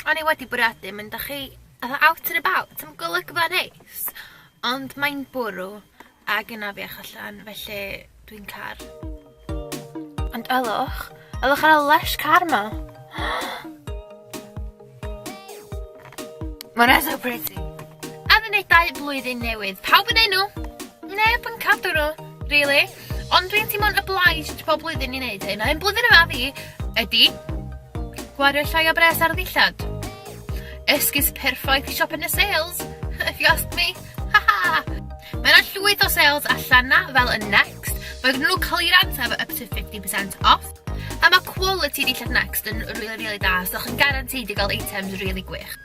O'n i wedi bwriadu mynd â chi fatha out and about am golygfa neis ond mae'n bwrw ag yn afiach allan felly dwi'n car. Ond ylwch, ylwch ar y lysh car 'ma! Mona so pretty. Addunedau blwyddyn newydd. Pawb yn enw? Neb yn cadw nhw, really. Ond dwi'n teimlo'n obliged pob blwyddyn i wneud hyn, a hyn blwyddyn yma fi ydy gwario llai o bres ar ddillad. Esgus perffaith i siop yn y sales, if you ask me. Ha ha! Mae yna llwyth o sales allan na, fel y Next. Mae gen nhw clearance efo up to 50% off. A ma' quality dillad Next yn rili rili da so chi'n guaranteed i ga'l items rili gwych.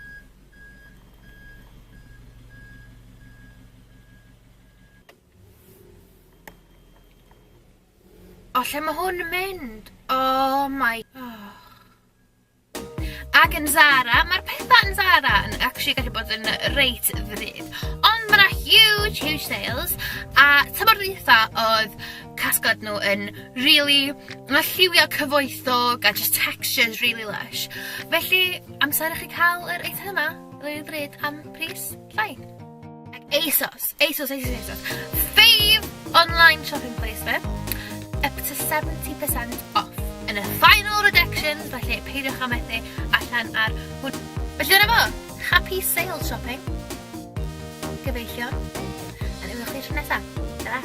O lle ma' hwn yn mynd? Oh my oh. Ac yn Zara, mae'r pethau yn Zara yn actually gallu bod yn reit ddrud. Ond mae yna huge, huge sales. A tymor dwytha oedd casgod nhw yn really, mae lliwio cyfoethog a just textures really lush. Felly, amser i chi cael yr eitem yma, rili ddrud am pris. Fine. Ac ASOS. ASOS, ASOS, ASOS. Fave online shopping place fe. Up to 70% off. Yn y final redactions, felly peidiwch â methu allan ar hwn. Felly dyna fo. Happy sale shopping. Gyfeillion. A ni'n chi tro nesaf. Ta-ra.